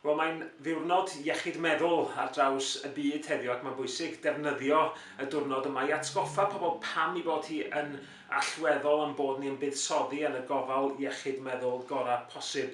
Wel, mae'n ddiwrnod iechyd meddwl ar draws y byd heddiw ac mae'n bwysig defnyddio y diwrnod yma i atgoffa pobl pam i bod hi yn allweddol am bod ni yn buddsoddi yn y gofal iechyd meddwl gorau posib.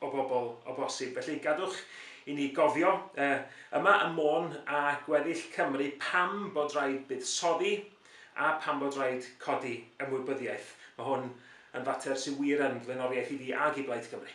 o bobl o bosib. Felly gadwch i ni gofio uh, yma ym Môn a gweddill Cymru pam bod rhaid buddsoddi a pam bod rhaid codi ymwybyddiaeth. Mae hwn yn fater sy'n wir yn flaenoriaeth i fi ag i Blaid Cymru.